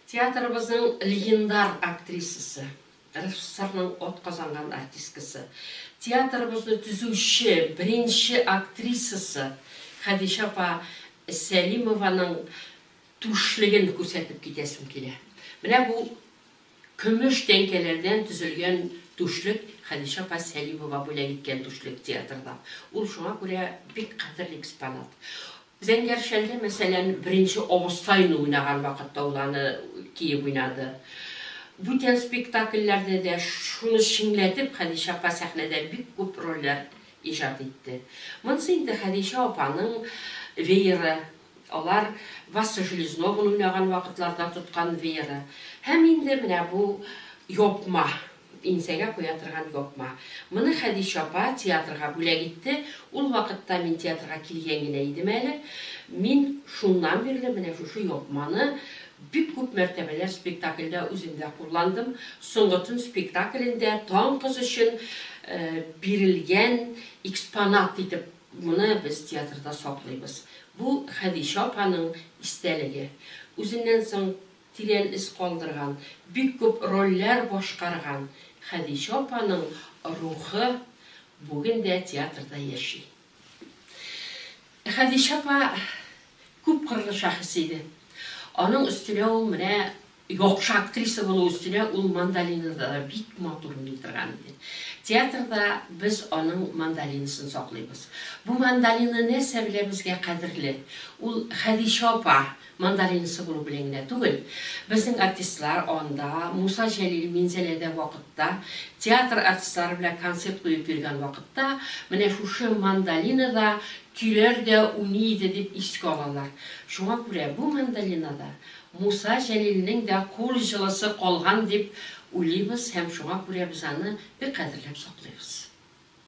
Театрыбызның легендар актрисасы, РСФСРның атказанган артисткасы, театрыбызны төзүче беренче актрисасы Хәдичә апа Сәлимованың түшлеген күрсәтеп китәсем килә. Менә бу Көмеш тәңкәләрдән төзелгән түшлек Хәдичә апа Сәлимова бүләк иткән түшлек театрда. Ул шуңа күрә бик кадерле экспонат. Зәңгәр шәлдә, мәсәлән, беренче абыстайны уйнаган вакытта ул аны киеп уйнады. Бүтән спектакльләрдә дә шуны чиңләтеп Хәдичә апа сәхнәдә бик күп рольләр иҗат итте. Монысы инде Хәдичә апаның вееры. Алар Васа Железного уйнаган вакытларда тоткан вееры һәм инде менә бу япма, иңсәгә куя торган япма. Моны Хәдичә апа театрга бүләк итте. Ул вакытта мин театрга килгән генә идем әле. Мин шуннан бирле менә шушы япманы бик күп мәртәбәләр спектакльдә үзем дә кулландым. Соңгы төн спектаклендә Таң кыз өчен бирелгән экспонат итеп Моны без театрда саклыйбыз. Бу, Хәдичә апаның истәлеге. Үзеннән соң тирән эз калдырган, бик күп рольләр башкарган Хәдичә апаның рухы бүген дә театрда яши. Хәдичә апа күпкырлы шәхес иде. Аның өстенә ул менә Яхшы актриса булу өстенә ул мандолинада да бик матур уйный торган иде. Театрда без аның мандолинасын саклыйбыз. Бу мандолина нәрсә белән безгә кадерле? Ул Хәдичә апа мандолинасы булу белән генә түгел. Безнең артистлар анда, Муса Җәлил Минзәләдә вакытта, театр артистлары белән концерт куеп йөргән вакытта менә шушы мандолинада көйләр дә уйный иде дип искә алалар. Шуңа күрә бу мандолинада Муса Җәлилнең дә кул җылысы калган дип уйлыйбыз һәм шуңа күрә без аны бик кадерләп саклыйбыз.